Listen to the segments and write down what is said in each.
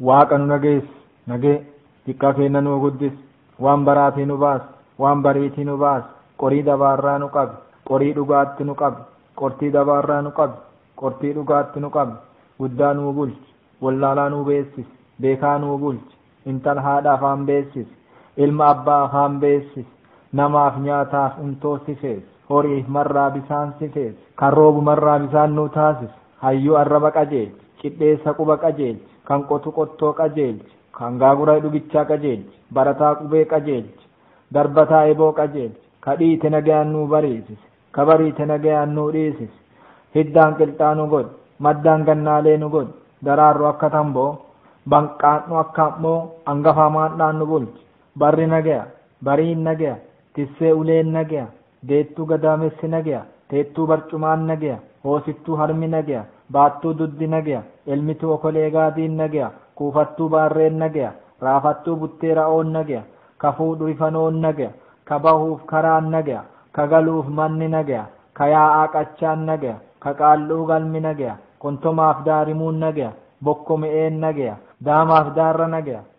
Waaqa nu nageess, nagee. Diqqaa keenna nuu guddis, waan baraatii nu baas, waan bariitii nu baas, qorii dabaarraa nu qabi, qorii dhugaatti nu qabi, qortii dabaarraa nu qabi, qortii dhugaatti nu qabi, guddaa nuu bulchi, wollaalaa nuu beessisi, beekaa nuu bulchi, intala haadha afaan beessisi, ilma abbaa afaan beessisi, namaaf nyaataaf untoo sifeessi, horiif marraa bisaan sifeessi, kan roobu marraa bisaan nuu taasisi. Hayyuu arraba qajeelchi, cidheessa quba qajeelchi, kan qotu qottoo qajeelchi, kan gaagura hidhugichaa qajeelchi, barataa qubee qajeelchi, darbataa eboo qajeelchi, ka dhiite nagayaan nuu bariisisi, ka bariite nagayaan nuu dhiisisi, hiddaan qilxaa nu godhi, maddaan gannaalee nu godhi, daraarru akka tamboo, banqaadhu akka am'moo, angafaa maandhaan nu bulchi, barri nagaya, bariin nagaya, Tissee uleen nageya, deettuu gadaamessi nageya, teettuu barcumaan nageya, hoosiftuu harmi nageya, baattuu duddi nageya, elmituu okolee gaadiin nageya, kuufattuu baarreen nageya, raafattuu buttee ra'oon nageya, kafuu dhurifanoon nageya, ka bahuuf karaan nageya, ka galuuf manni nageya, ka yaa'aa qachaan nageya, ka qaal'uu galmi nageya, qontomaaf daarimuun nageya, bokko me'een nageya, daamaaf daarra nageya,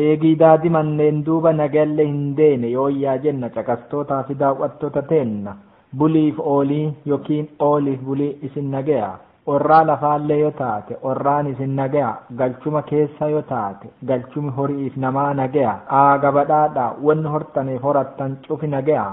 Eegii daadimanneen duuba nagayalle hin deene yooyyaa jenna caqastootaa fi daaw'attoota teenna. Buliif oolii yokiin ooliif bulii isin nagayaa. Orraa lafaallee yo taate orraan isin nagayaa. Galchuma keessa yo taate galchumi hori'iif namaa nagayaa. Aa gabadhaadhaa wonni hortaniif horattan cufi nagayaa.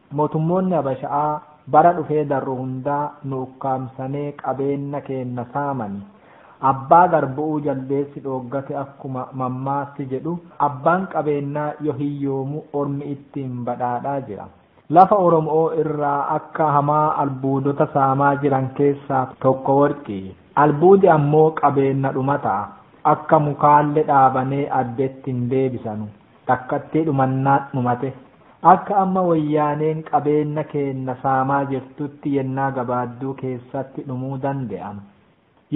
Motummoonni Habasha'aa bara dhufee darru hundaa nu ukkaamsanee qabeenna keenna saamani. Abbaa garbu'uu jaldeessi dhooggate akkuma mammaassi jedhu abbaan qabeennaa yo hiyyoomu ormi ittiin badhaadhaa jira. Lafa Oromo'oo irraa akka hamaa albuudota saamaa jiran keessaa tokko worqi. Albuudi ammoo qabeenna dhumata'a. Akka mukaalle dhaabanee addetti hin deebisanu. Takkattii dhumannaan dhumate. Akka amma Woyyaaneen qabeenna keenna saamaa jirtutti yennaa gabaadduu keessatti dhumuu dande'am.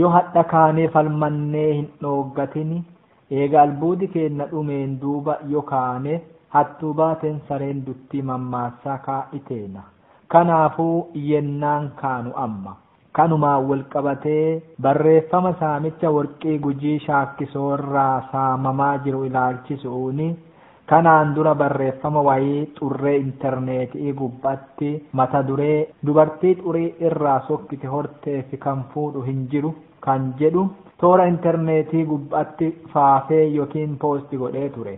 Yoo hadha kaanee falmannee hin dhooggatin, eega albuudi keenna dhumeen duuba yoo kaane, hattuu baateen sareen duttii mammaassaa kaa'i teena. Kanaafuu yennaan kaanu amma. Kanumaan walqabatee barreeffama saamicha Warqii Gujii Shaakkisoo irraa saamamaa jiru ilaalchisu'uun kanaan dura barreeffama wayii xurree interneeti'ii gubba'atti mata duree Dubartii xurii irraa sokkite horteef kan fuudhu hin jiru kan jedhu toora interneetii gubba'atti faafee yookiin post godhee ture.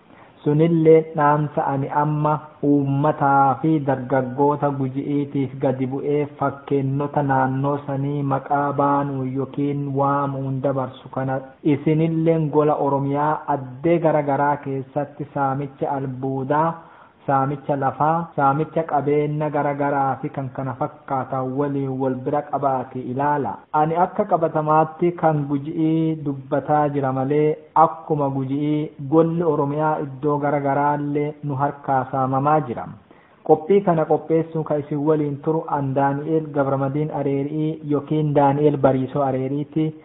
Sunilleen dhaamsa ani amma uummataa fi dargaggoota Guji'iitiif gadi bu'ee fakkeennota naannoo sanii maqaa baanuun yookiin waamuun dabarsu kana dha. Isinilleen gola Oromiyaa addee gara garaa keessatti saamicha albuudaa, saamicha lafaa, saamicha qabeenna gara garaa fi kan kana fakkaatan waliin wal bira qabaatii ilaala. Ani akka qabatamaatti kan Guji'ii dubbataa jira malee akkuma Guji'ii golli Oromiyaa iddoo gara garaallee nu harkaa saamamaa jira. Qophii kana qopheessuun kan isin waliin turu an Daani'eel Gabramadiin Areeri'ii yokiin Daani'eel Bariisoo Areeriiti.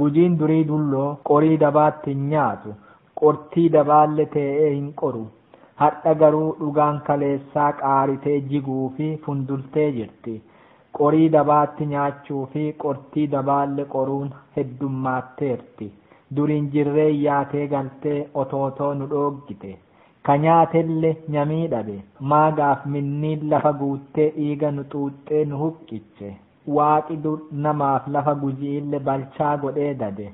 Gujiin durii dulloo qorii dabaatti hin nyaatu, qortii dabaalle tee'ee hin qoru. Hadha garuu dhugaan kaleessaa qaaritee jiguu fi fundultee jirti. Qorii dabaatti nyaachuu fi qortii dabaalle qoruun heddummaatteerti. Duriin jirreen yaatee galtee otootoo nu dhooggite. Ka nyaatelle nyamii dhabe. Maagaaf minniin lafa guuttee dhiiga nu xuuxxee nu huqqiche. Waaqi dur namaaf lafa Guji'iille balchaa godhee dade.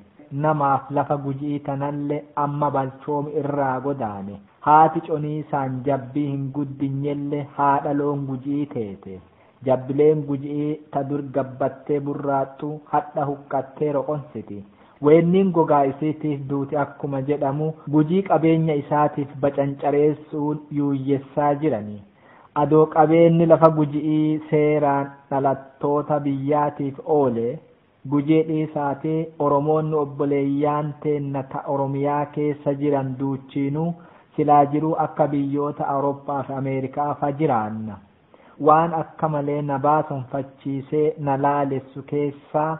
Namaaf lafa Guji'ii tanalle amma balchoomi irraa godaane. Haati coniisaan jabbii hin guddinyelle haadha loon Guji'ii teete. Jabbileen Guji'ii ta dur gabbattee burraaxxu hadha huqqattee roqonsiti. Weenniin gogaa isiitiif duuti akkuma jedhamu Gujii qabeenya isaatiif bacancareessu'uun yuuyyessaa jirani. Adoo qabeenni lafa Guji'ii seeraan dhalattoota biyyaatiif oole, Gujii dhiisaati Oromoonni obboleeyyaan teenna ta Oromiyaa keessa jiran duuchiinuu silaa jiruu akka biyyoota Awuroppaa fi Ameerikaa fa jiraanna. Waan akka malee na baasonfachiisee na laalessu keessaa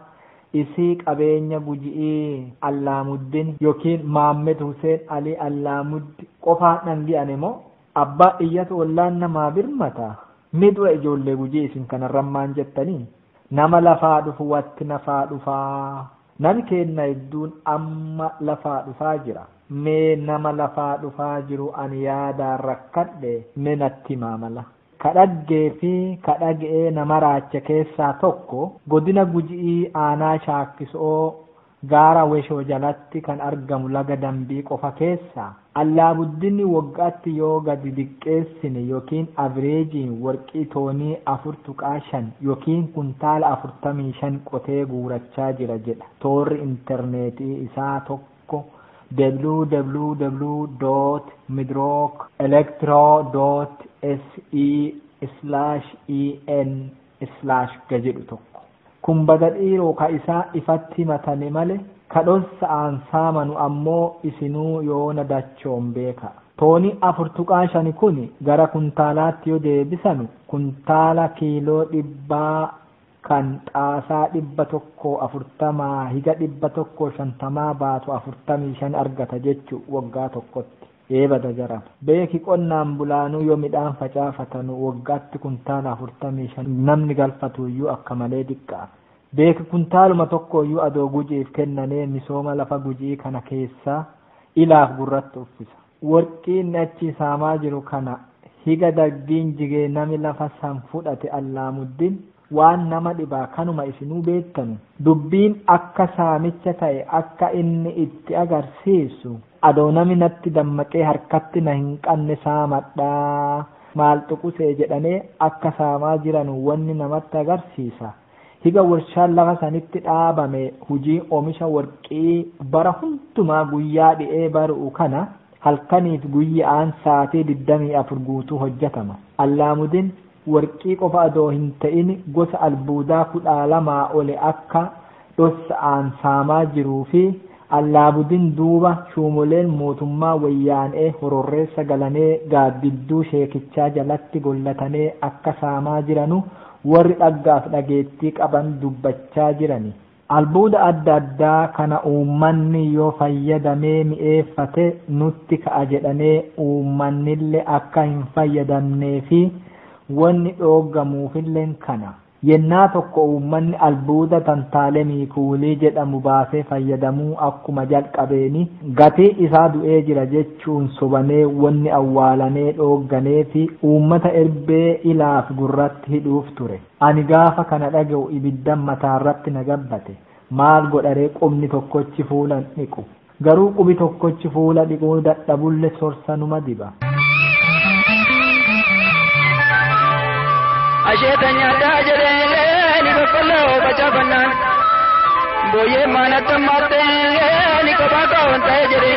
isii qabeenya Guji'ii Allaamuddin yookiin Maammed Huseen Alii Allaamuddi qofaan dhangi'ane moo Abbaa iyyatu ollaan namaa birmata? Mee dura ijoollee Gujii isin kanarran maan jettanii? Nama lafaa dhufu watti nafaa dhufaa? Nami keenna hedduun amma lafaa dhufaa jira. Mee nama lafaa dhufaa jiru ani yaadaan rakkadhe mee natti himaa mala. Ka dhaggee fi ka dhage'ee na maraache keessaa tokko, godina Guji'ii aanaa Shaakkiso'oo, Gaara Weshoo jalatti kan argamu laga Dambii qofa keessa Allaabuddinni waggaatti yoo gadi diqqeessine yookiin avireejiin warqii toonii 4.5 yookiin kuntaala 45 qotee guurachaa jira jedha toorri interneetii isaa tokko www.midrookelectro.se/en. slash ga jedhu tokko. Kun baga dhiiroo ka isaa ifatti himatane male ka dhossa'aan saamanu ammoo isinuu yoona dachoon beeka. Tooni 4.5 kuni gara kuntaalaatti yo deebisanu kuntaala kiiloo dhibbaa kan xaasaa 140-150 baatu 45 argata jechu woggaa tokkotti. Ee bada jaran. Beeki qonnaan bulaanuu yoo midhaan facaafatanu waggaatti kuntaala 45 namni galfatuuyyuu akka malee diqqaa. Beeki kuntaaluma tokkooyyuu adoo Guji'iif kennanee misooma lafa Guji'ii kana keessaa ilaaf gurratti uffisa. Worqii inni achii saamaa jiru kana higa daggiin jigee nami lafa san fudhate Allaamuddin waan nama dhibaa kanuma isinuu beettanu. Dubbiin akka saamicha ta'e akka inni itti agarsiisu, adoo nami natti dammaqee harkatti na hin qanne saamadha, maal xuqusee jedhanee akka saamaa jiranu wonni namatti agarsiisa. Higa worshaan lafa sanitti dhaabame hujii omisha worqi'ii bara hundumaa guyyaa dhi'ee baru'u kana halkanii fi guyya'aan saatii diddamii afur guutuu hojjatama. Allaamudin Warqii qofa adoo hin ta'in gosa albuudaa 12 oli akka dhossa'aan saamaa jiruu fi Allaabudin duuba shuumoleen mootummaa Wayyaan'ee hororreessa galanee gaaddidduu sheekichaa jalatti gollatanee akka saamaa jiranu warri dhaggaaf dhageettii qaban dubbachaa jirani. Albuuda adda addaa kana uummanni yoo fayyadamee mi'eeffate nutti ka'a jedhanee uummannille akka hin fayyadamnee fi wonni dhooggamuufilleen kana. Yennaa tokko uummanni albuuda tantaalemii kuulii jedhamu baasee fayyadamuu akkuma jalqabeen gatii isaa du'ee jira jechuun sobamee wonni awwaalanee dhoogganee fi uummata erbee ilaaf gurratti hidhuuf ture. Ani gaafa kana dhaga'u ibiddan mataarratti na gabbate. Maal godharee qubni tokkochi fuula hin dhiqu. Garuu qubi tokkochi fuula dhiquu dadhabulle sorsa numa diba. Asheeta nyaadhaa jedhee ni boqqolloo facaafannaan. Booyyee maanatti ammaatti ni kophaa ka'oon ta'ee jedhee.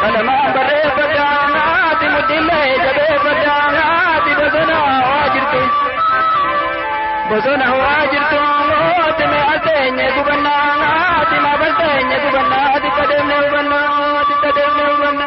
Kalamaa barreeffadha naati mudhillee jabeeffadha naati bosona waa jirtu. Bosona waa jirtu mooti mee aseenye gubanna naati maaf aseenye gubanna ati qadeemne hubanna ati qadeemne hubanna.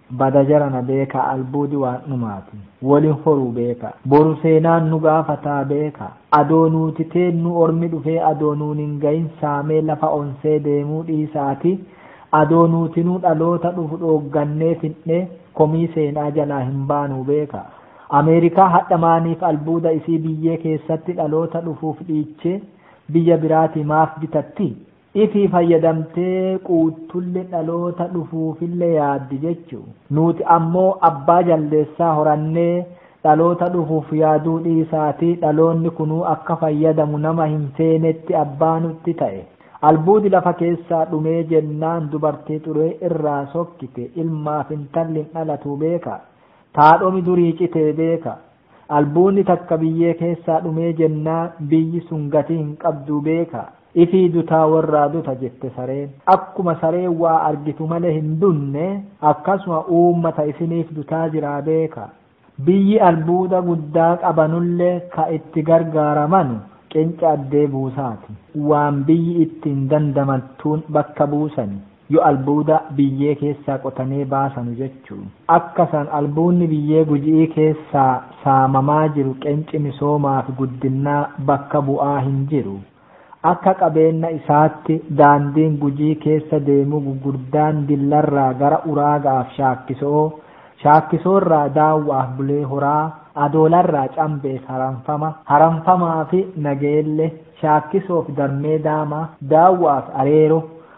Bada jarana beeka albuudi waan dhumaati wolin horuu beeka boru seenaan nu gaafataa beeka adoo nuuti teennuu ormi dhufee adoo nuun hin gahin saamee lafa onsee deemuu dhiisaati adoo nuutinuu dhaloota dhufu dhooggannee fidhnee komii seenaa jalaa hin baanuu beeka Ameerikaa hadha maaniif albuuda isii biyyee keessatti dhaloota dhufuuf dhiichee biyya biraatii maaf bitatti? Itii fayyadamtee quuttulle dhaloota dhufuufille yaaddi jechu. Nuuti ammoo abbaa jaldeessaa horannee dhaloota dhufuuf yaaduu dhiisaatii dhaloonni kunuu akka fayyadamu nama hin feenetti abbaa nutti ta'e. Albuudi lafa keessaa dhumee jennaan dubartii xuree irraa sokkite ilmaaf intalli hin dhalatuu beeka. Taadhomi durii citee beeka. Albuunni takka biyyee keessaa dhumee jennaan biyyi sun gatii hin qabduu beeka. Ifii dutaa worraa duta jette sareen. Akkuma sareen waa argitu malee hin dunne akkasuma uummata isiniif dutaa jiraa beeka. Biyyi albuuda guddaa qabanullee ka itti gargaaramanu qinca addee buusaati. Waan biyyi ittiin dandamattuun bakka buusanii. Yo albuuda biyyee keessaa qotanee baasanu jechu. Akka san albuunni biyyee Guji'ii keessaa saamamaa jiru qenci misoomaa fi guddinnaa bakka bu'aa hin jiru. Akka qabeenna isaatti daandiin Gujii keessa deemuu gugurdaan Dillarraa gara Uraaga'aaf Shaakkiso'oo, Shaakkisoorraa Daawwa'aaf Bulee Horaa, Adoolarraa Cambeef Haramfama, Haramfamaafi Nageelle, Shaakkisoof Darmee Daamaa, Daawwa'aaf Areero,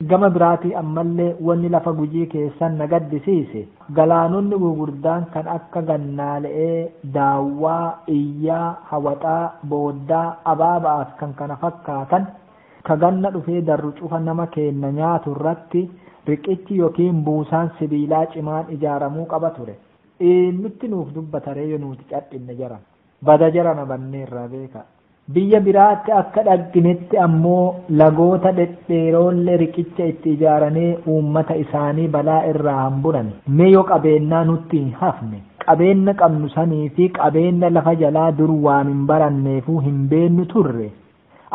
Gama biraatii ammallee wanni lafa Gujii keessan na gaddisiise galaanonni gugurdaan kan akka Gannaale'ee, Daawwaa, Iyyaa, Hawaxaa, Booddaa, Abaaba'aa fi kkf ka ganna dhufee darru cufa nama keenna nyaatu irratti riqichi yookiin buusaan sibiilaa cimaan ijaaramuu qaba ture. Eennutti nuuf dubbataree yo nuuti cadhinne jaran? Bada jarana banneerraa beekaa. Biyya biraatti akka dhagnetti ammoo lagoota dhedheeroolle riqicha itti ijaaranee uummata isaanii balaa irraa hamburani. Mee yo qabeennaa nutti hin hafne, qabeenna qabnu sanii fi qabeenna lafa jalaa dur waan hin baranneefuu hin beennu turre,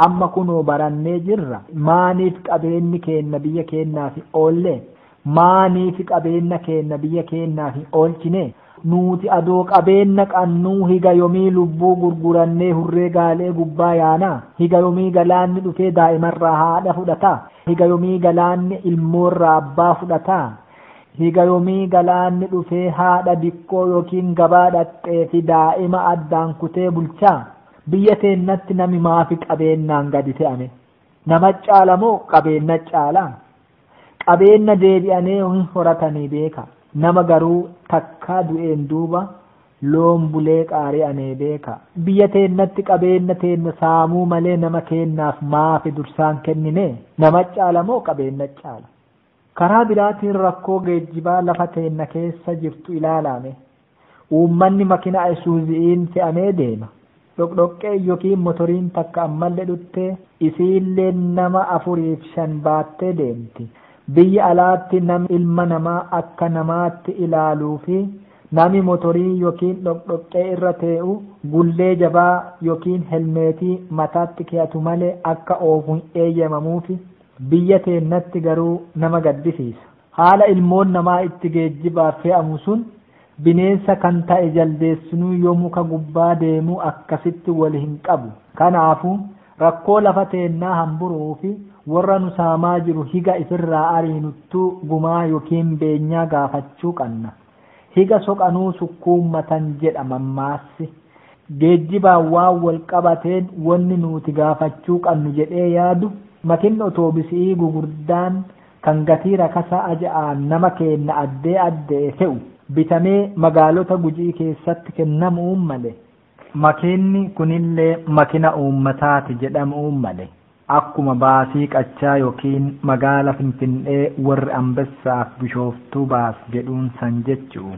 amma kunoo barannee jirra, maaniif qabeenni keenna biyya keennaaf hin oolle? Maanifi qabeenna keenna biyya keennaa hin oolchine? Nuuti adoo qabeenna qannuu higa yomii lubbuu gurgurannee hurree gaalee gubbaa yaana? Higa yomii galaanni dhufee daa'imarraa haadha fudhata? Higa yomii galaanni ilmoorraa abbaa fudhata? Higa yomii galaanni dhufee haadha dikkoo yookiin gabaa dhaxxeefi daa'ima addaan kutee bulcha? Biyya teennatti nami maafi qabeennaan gadi te'a me? Nama caala moo qabeenna caala? Qabeenna deebi'anee hin horatanii beeka. Nama garuu takkaa du'een duuba loon bulee qaari'anee beeka. Biyya teennatti qabeenna teenna saamuu malee nama keennaaf maafi dursaan kennine? Nama caala moo qabeenna caala? Karaa biraatiin rakkoo geejjibaa lafa teenna keessa jirtu ilaalaa mee. Uummanni makina Isuuzi'iin fe'amee deema. Dhoqdhoqqeen yokiin motoriin takka ammalle dhutte, isiille nama afuriif shan baattee deemti. Biyya alaatti nami ilma namaa akka namaatti ilaaluu fi nami motorii yokiin dhoqdhoqqee irra tee'u gullee jabaa yokiin helmeetii mataatti keyatu malee akka oofu hin eeyyamamuufi. Biyya teennatti garuu nama gaddisiisa. Haala ilmoon namaa itti geejjibaaf fe'amu sun bineensa kan ta'e jaldeessinuu yoo muka gubbaa deemu akkasitti wal hin qabu. Kanaafu, rakkoo lafa teennaa hamburu'uu fi worra nu saamaa jiru higa ifirraa ariinuttuu gumaa yokiin beenyaa gaafachuu qanna. Higa soqanuu sukkuummatan jedha mammaassi. Geejjibaan waan wal qabateen wonni nuuti gaafachuu qannu jedhee yaadu, makinni otoobisi'ii gugurdaan kan gatii rakasa aja'aan nama keenna addee adde'e te'u bitamee magaalota Guji'ii keessatti kennamu'uun male. Makiinni kunillee makina uummataa ti jedhamu'uun male. Akkuma baasii qachaa yokiin magaala Finfin'ee worri Anbessaaf Bishooftuu baas jedhuun san jechu'u.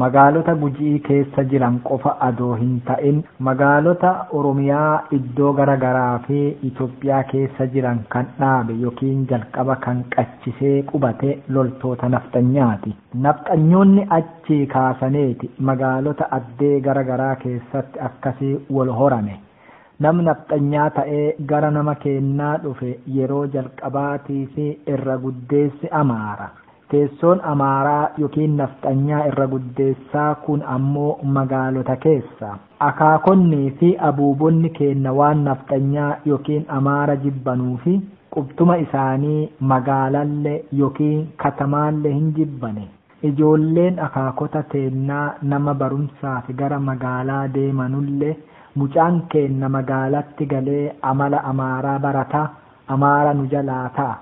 Magaalota Guji'ii keessa jiran qofa adoo hin ta'in magaalota Oromiyaa iddoo gara garaa fi Itoophiyaa keessa jiran kan dhaabe yokiin jalqaba kan qachisee qubate loltoota nafxanyaati. Nafxanyoonni achii kaasaneeti magaalota addee gara garaa keessatti akkasii wol horane. Nam nafxanyaa ta'ee gara nama keennaa dhufe yeroo jalqabaatiif irra guddeessi Amaara. Teessoon Amaaraa ykn Nafxanyaa irra guddeessaa kun ammoo magaalota keessa. Akaakonni fi abuubonni keenna waan Nafxanyaa ykn Amaara jibbanuu fi qubtuma isaanii magaalalle ykn katamaalle hin jibbane. Ijoolleen akaakota teennaa nama barumsaaf gara magaalaa deemanulle mucaan keenna magaalatti galee amala Amaaraa barata, Amaara nu jalaa ta'a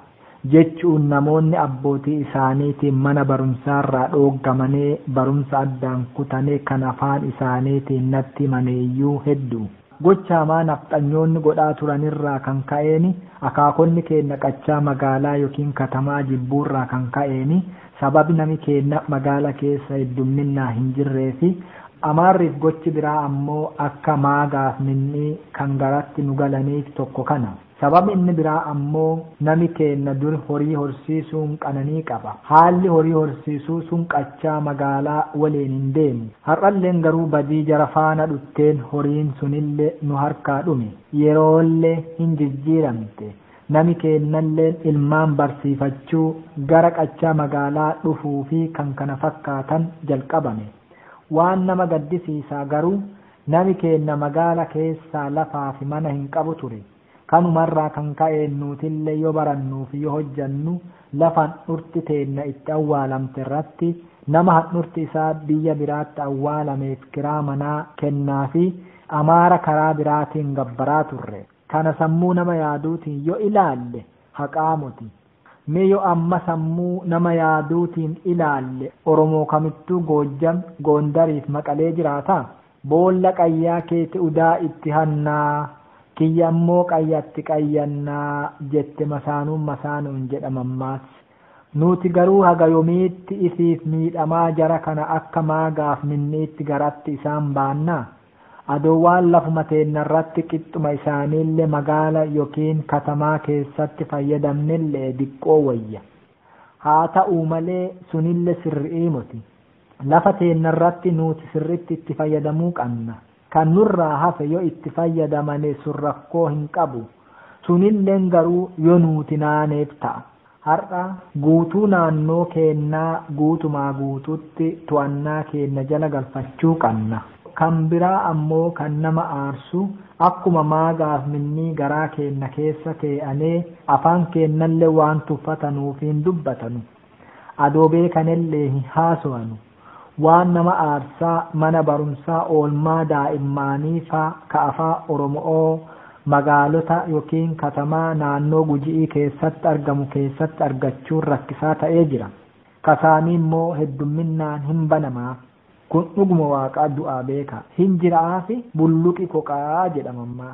jechuun namoonni abbootii isaaniitiin mana barumsaarraa dhooggamanee barumsa addaan kutane kan afaan isaaniitiin natti himaneeyyuu heddu. Gocha hamaa nafxanyoonni godhaa turanirraa kan ka'een akaakonni keenna qachaa magaalaa ykn katamaa jibbuurraa kan ka'een Sababi nami keenna magaala keessa heddumminnaa hin jirreefi, Amaarriif gochi biraa ammoo akka maagaaf minnii kan garatti nu galaniif tokko kana. Sababi inni biraa ammoo nami keenna dur horii horsiisuun qananii qaba. Haalli horii horsiisuu sun qachaa magaalaa waliin hin deemu. Har'alleen garuu badii jara faana dhutteen horiin sunille nu harkaa dhume. Yeroolle hin jijjiiramte. Nami keennalleen ilmaan barsiifachuu, gara qachaa magaalaa dhufuu fi kkf jalqabame. Waan nama gaddisiisaa garuu, nami keenna magaala keessaa lafaa fi mana hin qabu ture. Kanuma irraa kan ka'een nuutillee yoo barannuu fi yoo hojjannu lafa handhurti teenna itti awwaalamte irratti nama handhurti isaa biyya biraatti awwaalameef kiraa manaa kennaafii amaara karaa biraatiin gabbaraa turre. Kana sammuu nama yaaduutiin yo ilaalle haqaa moti. Mee yo amma sammuu nama yaaduutiin ilaalle Oromoo kamittuu Goojjam, Goondariif Maqalee jiraata? Boolla qayyaa keeti udaa itti hannaa, kiyya ammoo qayyatti qayyannaa jette masaanuun masaanuun jedha mammaassi. Nuuti garuu haga yomiitti ifiif miidhamaa jara kana akka maagaaf minni'itti garatti isaan baannaa? Adoowwaan lafuma teennarratti qixxuma isaaniille magaala yookiin katamaa keessatti fayyadamnille diqqoo woyya. Haata'uu malee sunille sirri'ii moti. Lafa teennarratti nuuti sirritti itti fayyadamuu qanna. Kan nurraa hafe yo itti fayyadamane sun rakkoo hin qabu. Sunilleen garuu yo nuuti naaneef ta'a. Har'a guutuu naannoo keennaa guutumaa guutuutti to'annaa keenna jala galfachuu qanna. Kan biraa ammoo kan nama aarsu akkuma maagaaf minnii garaa keenna keessa tee'anee afaan keennalle waan tuffatanuuf hin dubbatanu. Adoo beekanellee hin haasowanu. Waan nama aarsaa mana barumsaa oolmaa daa'immaanii faa ka afaa Oromo'oo magaalota yookiin katamaa naannoo Guji'ii keessatti argamu keessatti argachuun rakkisaa ta'ee jira. Kasaanii immoo heddumminnaan hin banamaaf. Kun dhuguma Waaqaa du'aa beekaa. Hin jira'aafi bulluqi koqaa jedha mammaaksa.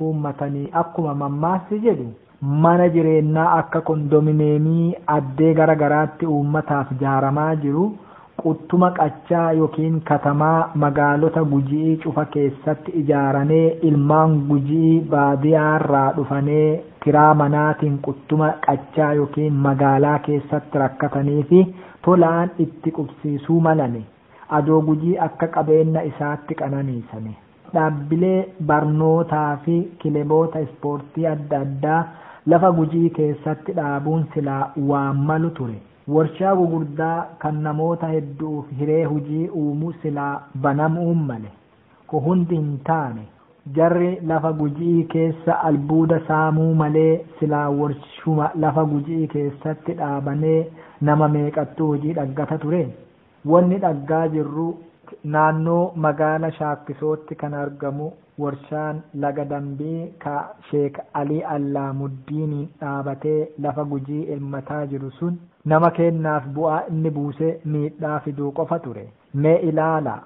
kuummatanii akkuma mammaassi jedhu mana jireennaa akka kondomineemii addee gara garaatti uummataaf jaaramaa jiru quttuma qachaa ykn katamaa magaalota Guji'ii cufa keessatti ijaaranee ilmaan Guji'ii baadiyaarraa dhufanee kiraa manaatiin quttuma qachaa ykn magaalaa keessatti rakkataniifi tolaan itti qubsiisuu malani adoo Gujii akka qabeenna isaatti qananiisanii. Dhaabbilee barnootaa fi kileboota ispoortii adda addaa lafa Gujii keessatti dhaabuun silaa waan malu ture. Warshaa gugurdaa kan namoota heddu'uuf hiree hujii uumu silaa banamu'uun male. Ku hundi hin taane. Jarri lafa Guji'ii keessa albuuda saamuu malee silaa warshuma lafa Guji'ii keessatti dhaabanee nama meeqattuu hujii dhaggata ture? Wanni dhaggaa jirru naannoo magaala Shaakkisootti kan argamu warshaan laga Dambii ka Sheek Alii Allaamuddiiniin dhaabatee lafa Gujii elmataa jiru sun nama keennaaf bu'aa inni buusee miidhaa fiduu qofa ture. Mee ilaalaa!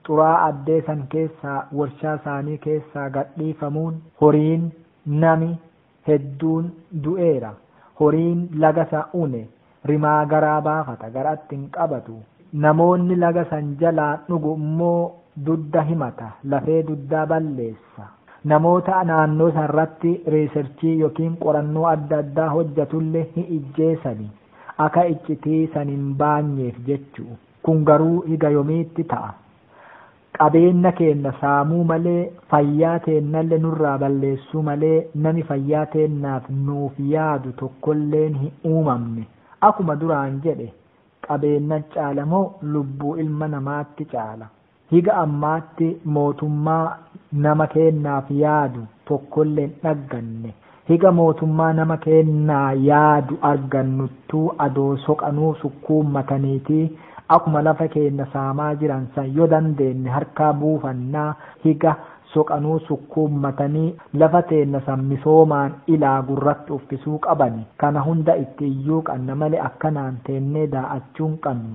Xuraa'aa addee san keessaa warshaa saanii keessaa gadhiifamuun horiin, nami, hedduun du'eera. Horiin laga sa une rimaa garaa baafata garaatti hin qabatu. Namoonni laga san jalaa dhugu immoo dudda himata, lafee duddaa balleessa. Namoota naannoo san irratti reeserchii yokiin qorannoo adda addaa hojjatulle hi ijjeesani aka iccitii san hin baanyeef jechu. Kun garuu higa yomiitti ta'a? Qabeenna keenna saamuu malee, fayyaa teennalle nurraa balleessuu malee, nami fayyaa teennaaf nuuf yaadu tokkolleen hin uumamne. Akuma duraan jedhe, qabeenna caala moo lubbuu ilma namaatti caala? Higa ammaatti mootummaa nama keennaaf yaadu tokkolle hin dhagganne. Higa mootummaa nama keennaa yaadu argannuttuu adoo soqanuu sukkuummataniitii akuma lafa keenna saamaa jiran san yo dandeenne harkaa buufannaa higa soqanuu sukkuummatanii lafa teenna san misoomaan ilaa gurratti uffisuu qabani kana hunda itti iyyuu qanna male akkanaan teennee daa'achuu hin qannu.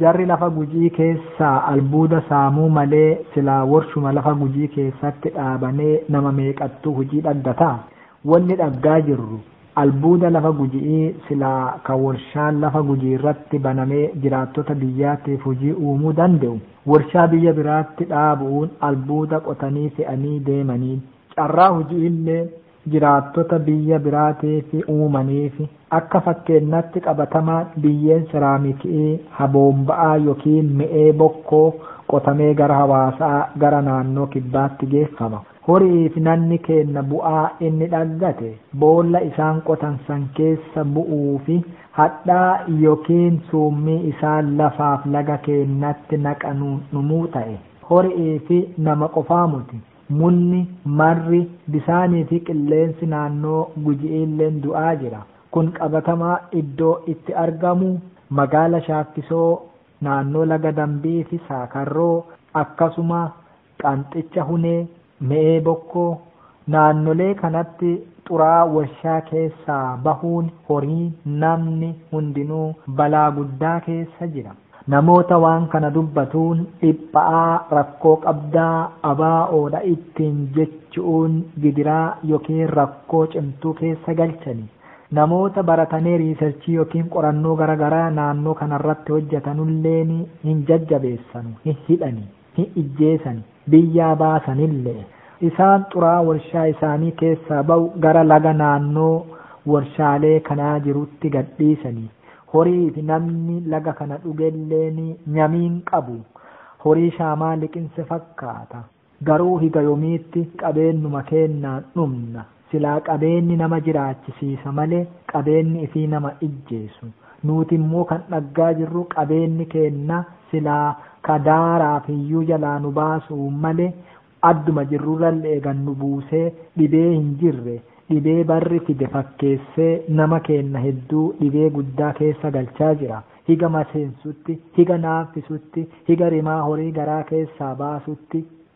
Jarri lafa Gujii keessaa albuuda saamuu malee silaa worshuma lafa Gujii keessatti dhaabanee nama meeqattuu hujii dhaggata? Wonni dhaggaa jirru albuuda lafa Guji'ii silaa ka worshaan lafa Gujiirratti banamee jiraattota biyyaatiif hujii uumuu dande'u worshaa biyya biraatti dhaabu'uun albuuda qotanii fe'anii deemaniin carraa huji'iillee Jiraattota biyya biraatiif uumaniif, akka fakkeennaatti qabatamaan biyyeen seraamiki'ii, ha boomba'aa yokiin me'ee bokkoo qotamee gara hawaasaa gara naannoo kibbaatti geeffama. Hori'iif nanni keenna bu'aa inni dhaggate boolla isaan qotan san keessa bu'uufi hadhaa yokiin suummii isaan lafaaf laga keennatti naqanuun dhumuu ta'e, hori'iifi nama qofaa moti. Munni, marri, bisaanii fi qilleensi naannoo Guji'iilleen du'aa jira. Kun qabatamaa iddoo itti argamu magaala Shaakkisoo, naannoo laga Dambii fi Saakarroo, akkasuma Qanxicha Hunee, Me'ee Bokkoo, naannolee kanatti xuraa'aa warshaa keessaa bahuun horii, namni hundinuu balaa guddaa keessa jira. Namoota waan kana dubbatuun dhipha'aa rakkoo qabda ABO dha ittiin jechu'uun gidiraa yookiin rakkoo cimtuu keessa galchani. Namoota baratanee riisarchii yookiin qorannoo gara garaa naannoo kanarratti hojjatanulleen hin jajjabeessanu, hin hidhani. ni ijjeesani, biyyaa baasanille'e. Isaan xuraa'aa worshaa isaanii keessaa bawu gara laga naannoo worshaalee kanaa jirutti gad dhiisani, horii fi namni laga kana dhugelleen nyami hin qabu, horii shaamaa liqinse fakkaata, garuu higa yomiitti qabeennuma keennaan dhumna? Silaa qabeenni nama jiraachisiisa malee qabeenni ifii nama ijjeesu. Nuuti immoo kan dhaggaa jirru qabeenni keenna silaa ka daaraa fiyyuu jalaa nu baasu malee adduma jirrurralle'e gad nu buusee dhibee hin jirre dhibee barri fide fakkeessee nama keenna hedduu dhibee guddaa keessa galchaa jira. Higa maseensutti, higa naaffisutti, higa rimaa horii garaa keessaa baasutti.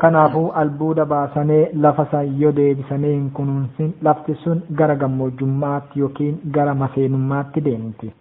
Kanaafuu albuuda baasanee lafa san yo deebisanee hin kunuunsin lafti sun gara gammoojjummaatti yokiin gara maseenummaatti deemti.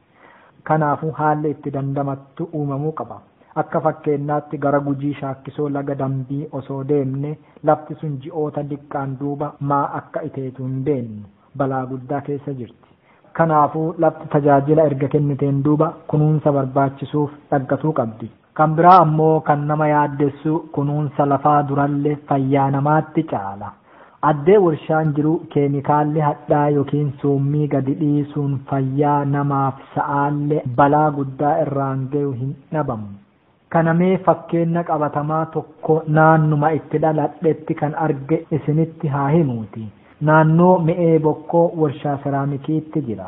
Kanaafuu haalli itti dandamattu uumamuu qaba. Akka fakkeennaatti gara Gujii Shaakkisoo laga Dambii osoo deemne lafti sun ji'oota diqqaan duuba maa akka iteetu hin beennu. Balaa guddaa keessa jirti. Kanaafuu lafti tajaajila erga kenniteen duuba kunuunsa barbaachisuuf dhaggatuu qabdi. Kan biraa ammoo kan nama yaaddessu kunuunsa lafaa duralle fayyaa namaatti caala. Addee worshaan jiru keemikaalli hadhaa yokiin suummii gadi dhiisuun fayyaa namaaf sa'aalle balaa guddaa irraan gayu hin dhabamu. Kana mee fakkeenna qabatamaa tokko naannuma itti dhaladhetti kan arge isinitti haa himuuti. Naannoo Me'ee Bokkoo warshaa seraamikiitti jira.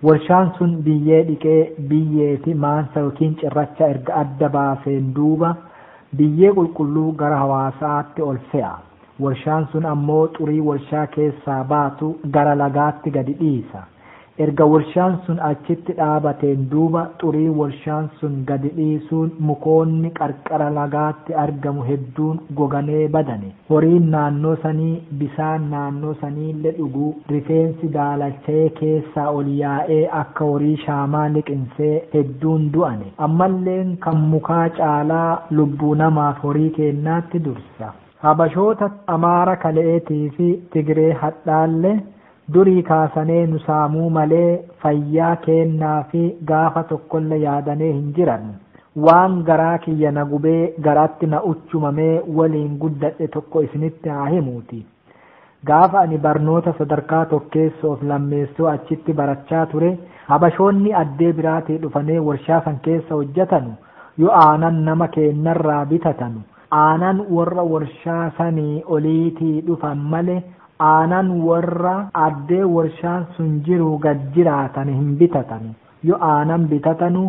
Warshaan sun biyyee dhiqee, biyyee fi maansa ykn cirracha erga adda baaseen duuba, biyyee qulqulluu gara Hawaasaatti ol fe'a. Warshaan sun ammoo xurii warshaa keessaa baatu gara lagaatti gadi dhiisa. Erga warshaan sun achitti dhaabateen duuba xurii warshaan sun gadi dhiisuun mukoonni qarqara lagaatti argamu hedduun goganee badani. Horiin naannoo sanii bisaan naannoo saniille dhuguu rifeensi daalachayee keessaa ol yaa'ee akka horii shaamaa liqinsee hedduun du'ane. Ammalleen kan mukaa caalaa lubbuu namaaf horii keennaatti dursa. Habashoota Amaara kale'eetii fi Tigiree hadhaalle Durii kaasanee nu saamuu malee fayyaa keennaafi gaafa tokkolle yaadanee hin jiran. Waan garaa kiyya na gubee garaatti na uchumamee waliin guddadhe tokko isinitti haa himuuti. Gaafa ani barnoota sadarkaa tokkeessoof lammeessoo achitti barachaa ture habashoonni addee biraatii dhufanee warshaa san keessa hojjatanu yo aanan nama keennarraa bitatanu aanan worra warshaa sanii oliitii dhufan male Aanan worra addee worshaan sun jiruu gad jiraatane hin bitatanu, yo aanan bitatanu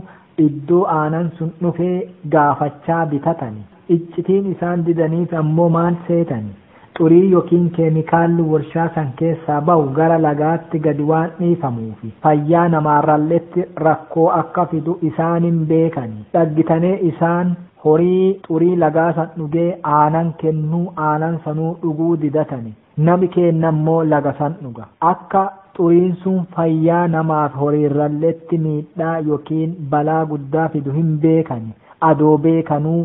iddoo aanan sun dhufee gaafachaa bitatani, iccitiin isaan didaniif ammoo maal seetani? Xurii yokiin keemikaalli worshaa san keessaa bahu gara lagaatti gad waan dhiifamuufi fayyaa namaarralletti rakkoo akka fidu isaan hin beekani, dhaggitanee isaan. Horii xurii lagaa san dhugee aanan kennuu aanan sanuu dhuguu didatani nami keenna immoo laga san dhuga. Akka xuriin sun fayyaa namaafi horiirralletti miidhaa yokiin balaa guddaa fidu hin beekani. Adoo beekanuu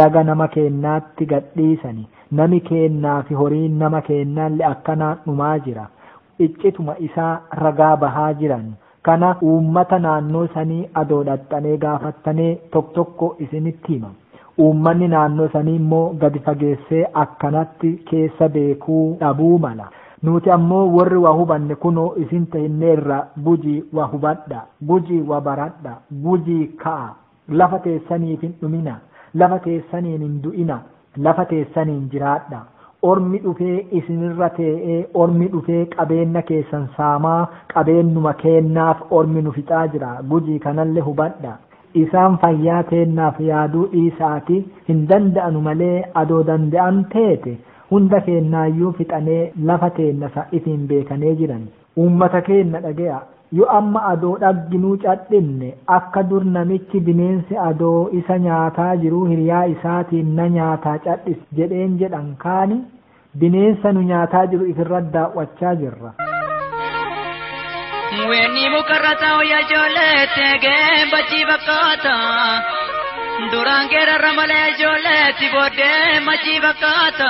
laga nama keennaatti gad dhiisani. Nami keennaafi horiin nama keennaalle akkanaan dhumaa jira. Iccituma isaa ragaa bahaa jiranu. Kana uummata naannoo sanii adoo dhaxxanee gaafattanee tok tokko isinitti hima. Uummanni naannoo sanii immoo gadi fageessee akkanatti keessa beekuu dhabuu mala. Nuuti ammoo worri wa hubanne kunoo isin tehinneerra Gujii wa hubadha! Gujii wa baradha! Gujii ka'aa! Lafa teessaniif hin dhuminaa, lafa teessaniin hin du'inaa, lafa teessaniin jiraadhaa. Ormi dhufee isin irra tee'ee, ormi dhufee qabeenna keessan saamaa, qabeennuma keennaaf ormi nu fixaa jira. Gujii kanalle hubadhaa. Isaan fayyaa teennaaf yaaduu dhiisa'aati, hin danda'anu malee adoo dande'an teete, hunda keennaayyuu fixanee lafa teenna san ifiin beekanee jirani. Uummata keenna dhage'a! Yo amma adoo dhagginuu cadhinne, akka dur namichi bineensi adoo isa nyaataa jiruu hiriyaa isaatiin na nyaataa cadhis jedheen jedhan kaani, bineensa nu nyaataa jiru if irra daaw'achaa jirra. Weenni muka irra taa'u yaa ijoollee, teegeen bachii fakkaata. Duraan geerarra malee yaa ijoollee, itti booddee machii fakkaata.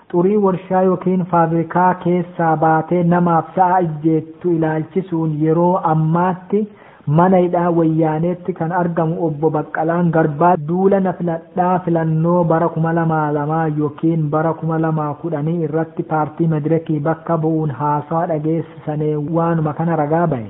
Xurii warshaa ykn faabirikaa keessaa baatee namaaf sa'a ijjeettu ilaalchisuun yeroo ammaatti mana hidhaa Wayyaaneetti kan argamu Obbo Baqqalaan Garbaa, duula na filadhaa filannoo bara 2002 ykn bara 2010 irratti paartii Medireki bakka bu'uun haasawa dhageessisane waanuma kana ragaa bahe.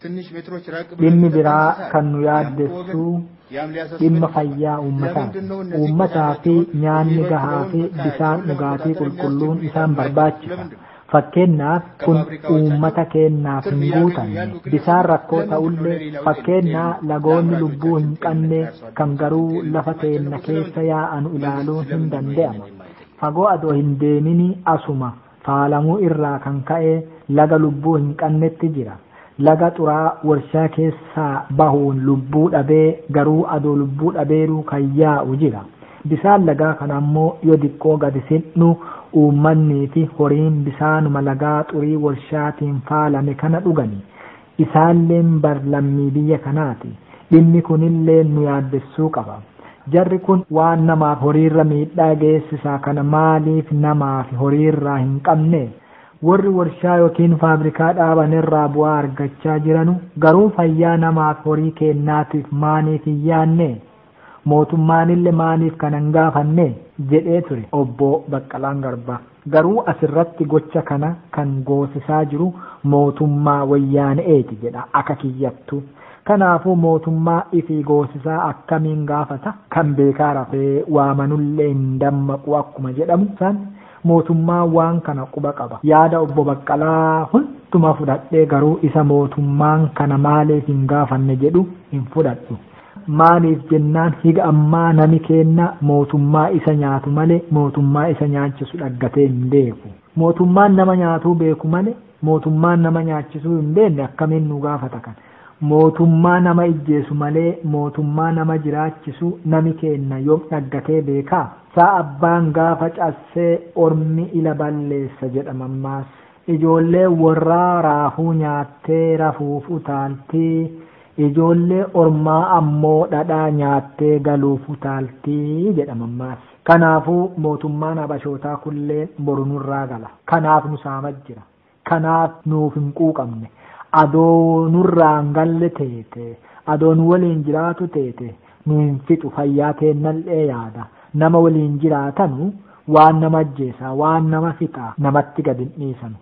Dhimmi biraa kan nu yaaddessu dhimma fayyaa uummataati. Uummataa fi nyaanni gahaa fi bishaan dhugaatii qulqulluun isaan barbaachisa. Fakkeenyaaf kun uummata keenyaaf hin guutamne. Bishaan rakkoo ta'ullee fakkeenyaa lagoonni lubbuu hin qabne kan garuu lafa teenna keessa yaa'anu ilaaluun hin danda'ama. Fagoo adoo hin deemini asuma faalamuu irraa kan ka'e laga lubbuu hin qannetti jira. Laga xuraa'aa warshaa keessaa bahuun lubbuu dhabee garuu adoo lubbuu dhabeeruu kan yaa'u jira. Bisaan lagaa kana ammoo yo diqqoo gadi sin'nu uummanniifi horiin bisaanuma lagaa xurii warshaatiin faalame kana dhugani. Isaanilleen bar lammii biyya kanaati. Dhimmi kunilleen nu yaaddessuu qaba. Jarri kun waan namaaf horiirra miidhaa geessisaa kana maaliif namaafi horiirraa hin qabnee? Worri worshaa yookiin faabrikaa dhaabanirraa bu'aa argachaa jiranu garuu fayyaa namaafi horii keennaatiif maaniif hin yaannee? Mootummaanille maaliif kana hin gaafanne? jedhee ture Obbo Baqqalaan Garbaa. Garuu asirratti gocha kana kan goosisaa jiru mootummaa Woyyaane'eeti jedha aka kiyyattuu. Kanaafuu mootummaa ifii goosisaa akkamiin gaafata? Kan beekaa rafee waamanullee hin dammaqu akkuma jedhamu san mootummaan waan kana quba qaba. Yaada Obbo Baqqalaa hunduma fudhadhee garuu isa mootummaan kana maaliif hin gaafanne jedhu hin fudhadhu. Maaliif jennaan higa ammaa nami keenna mootummaa isa nyaatu male mootummaa isa nyaachisu dhaggatee hin beeku. Mootummaan nama nyaatuu beeku male mootummaa nama nyaachisuu hin beenne akkamiin nu gaafata kan. Mootummaa nama ijjeesu malee mootummaa nama jiraachisu nami keenna yom dhaggatee beekaa? Sa abbaan gaafa cassee ormi ila balleessa jedha mammaassi. Ijoolleen worraa raafuu nyaattee rafuuf utaalti, ijoollee ormaa ammoo dhadhaa nyaattee galuuf utaalti jedha mammaassi. Kanaafuu mootummaan Habashootaa kulleen boru nurraa gala. Kanaaf nu saamaa jira. Kanaaf nuuf hin quuqamne. Adoo nurraa hin galle teete, adoo nu woliin jiraatu teete, nu hin fixu fayyaa teennal'ee yaada nama waliin jiraatanu waan nama ajjeesaa waan nama fixaa namatti gad hin dhiisanu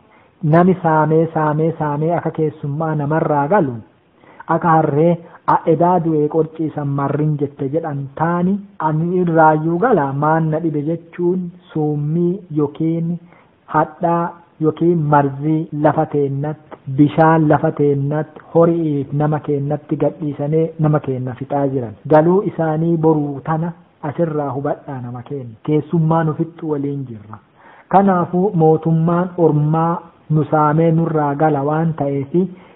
nami saamee saamee saamee aka keessummaa namarraa galu aka harree a edaa du'ee qorcii san marrin jette jedhan taani ani irraayyuu gala maan na dhibe jechuun suummii yokiin hadhaa yookiin marzii lafa teennatti, bishaan lafa teennatti, hori'ii fi nama keennatti gad dhiisanee nama keenna fixaa jiran. Galuu isaanii boruu tana as irraa hubadhaa nama keenna. Keessummaa nu fixxu woliin jirra. Kanaafuu mootummaan ormaa nu saamee nurraa gala waan ta'eef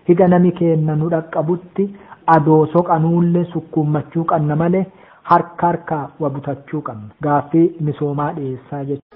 higa nami keenna nu dhaqqabutti adoo soqanuulle sukkuummachuu qanna malee harka harkaa wa butachuu qanna. Gaaffii misoomaa dhiyeessaa jechuun.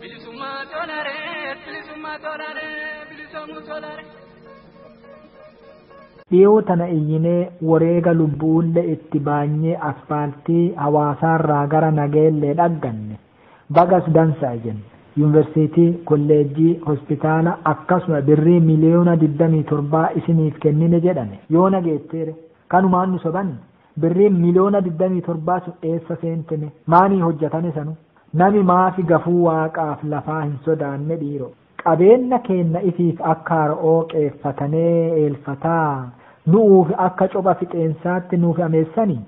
Bilisummaa tolare, bilisummaa tolare, bilisomuu tolare. Dhiyoo tana iyyinee woreega lubbu'ulle itti baanyee asfaaltii Hawaasaarraa gara Nageellee dhagganne. Bagas dansa'a jenna. Yunversiitii, kolleejjii, hospitaala akkasuma birrii miliyoona 27 isiniif kennine jedhane. Yoona geetteere? Kanumaan nu sobanii? Birriin miliyoona digdamii torbaa sun eessa seente me? Maanii hojjatane sanu? Nami maafi gafuu Waaqaaf lafaa hin sodaanne dhiiro? Qabeenna keenna ifiif akka haro'oo qeeffatanee eelfataa, nu'uuf akka copha fixeensaatti nuuf ameessanii?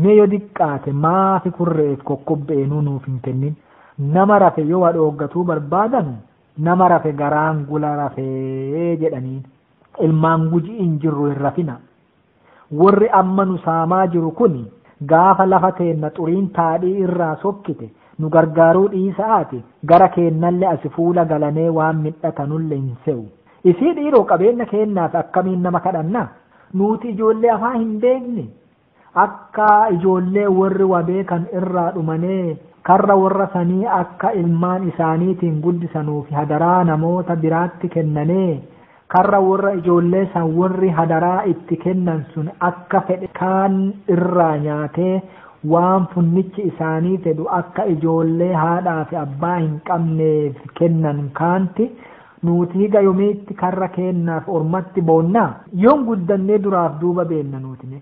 Me yo diqqaate maafi kurre'eef kokkobbe'eenuu nuuf hin kennin? Nama rafe yo wa dhooggatuu barbaadanu, nama rafe garaan gula rafee jedhaniin. Ilmaan Guji'iin jirru hin rafina'a. Worri amma nu saamaa jiru kuni gaafa lafa teenna xuriin taadhii irraa sokkite nu gargaaruu dhiisa'aati gara keennalle asi fuula galanee waan midhatanulle hin se'u. Isii dhiiroo qabeenna keennaaf akkamiin nama kadhanna? Nuuti ijoollee afaan hin beekne? Akka ijoollee worri wa beekan irraa dhumanee karra worra sanii akka ilmaan isaaniitiin guddisanuufi hadaraa namoota biraatti kennanee? Karra worra ijoollee san worri hadaraa itti kennan sun akka fedhe kaan irraa nyaatee, waan funnichi isaanii fedhu akka ijoollee haadhaa fi abbaa hin qabneef kennan kaanti, Nuuti higa yomiitti karra keennaaf ormatti boonnaa? Yoom guddannee duraaf duuba beenna nuuti mee?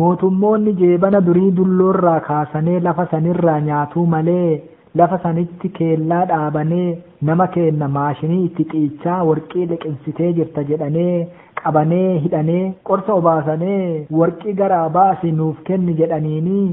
Mootummoonni jeebana durii dulloorraa kaasanee lafa sanirraa nyaatuu malee lafa sanitti keellaa dhaabanee nama keenna maashinii itti xiichaa worqii liqinsitee jirta jedhanee qabanee hidhanee qorsa obaasanee worqii garaa baasi nuuf kenni jedhaniinii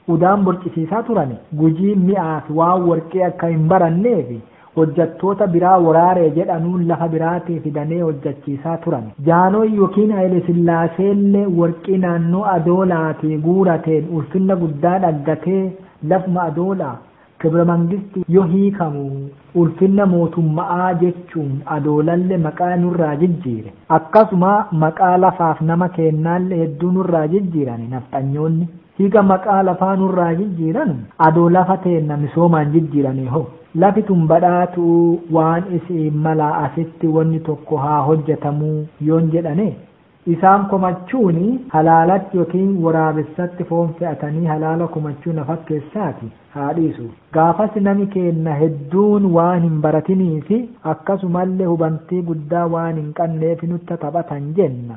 Udaan borcisiisaa turani. Gujiin mi'aafi waan worqii akka hin baranneefi hojjattoota biraa woraare jedhanuun lafa biraatii fidanee hojjachiisaa turani. Jaanooy yokiin Hayilesillaaseellee worqii naannoo Adoolaatii guurateen ulfinna guddaa dhaggatee lafuma Adoolaa, Kibremangisti, yo hiikamu ulfinna mootumma'aa jechuun Adoolalle maqaa nurraa jijjiire. Akkasuma maqaa lafaaf nama keennaalle hedduu nurraa jijjiirane nafxanyoonni. Higa maqaa lafaa nurraa jijjiiranu adoo lafa teenna misoomaan jijjiirane hoo? Lafi tun badhaatu'uu waan isi'iin malaa asitti wonni tokko haa hojjatamuu yoon jedhane, isaan komachuun halaalatti yookiin woraabessatti foon fe'atanii halaala komachuu na fakkeessaati haa dhiisu. Gaafas nami keenna hedduun waan hin baratiniifi akkasumalle hubantii guddaa waan hin qanneef nutti taphatan jenna.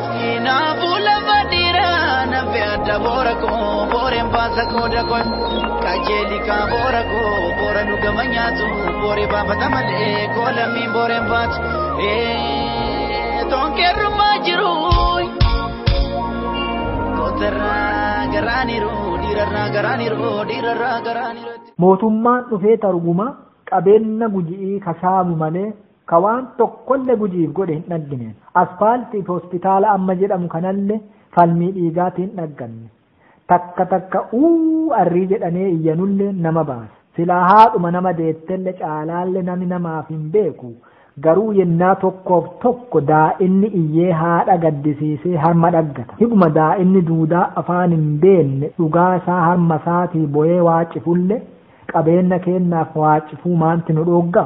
Kanaafuu lafa dhiiraa na fe'adha boora koo booreen baasa koo dakoon qajeeli kaa boora koo boora nu gama nyaatu booree baafata malee koo lammiin booreen baatu toonkeerrumaa jiru kootarraa garaaniru dhiirarraa garaaniru dhiirarraa garaaniru. Mootummaan dhufee targuma qabeenna guji'ii ka saamu malee ka waan tokkolle Gujiif godhe hin dhaggine. Aspaaltii fi hospitaala amma jedhamu kanalle falmii dhiigaatiin dhagganne. Takka takka URI jedhanee iyyanulle nama baasa. Silaa haadhuma nama deettelle caalaalle nami namaaf hin beeku. Garuu yennaa tokkoof tokko daa'inni iyyee haadha gaddisiisee harma dhaggata. Higuma daa'inni duudaa afaan hin beenne dhugaa isaa harma isaatii boyee waacifulle, qabeenna keennaaf waacifuu maanti nu dhoogga?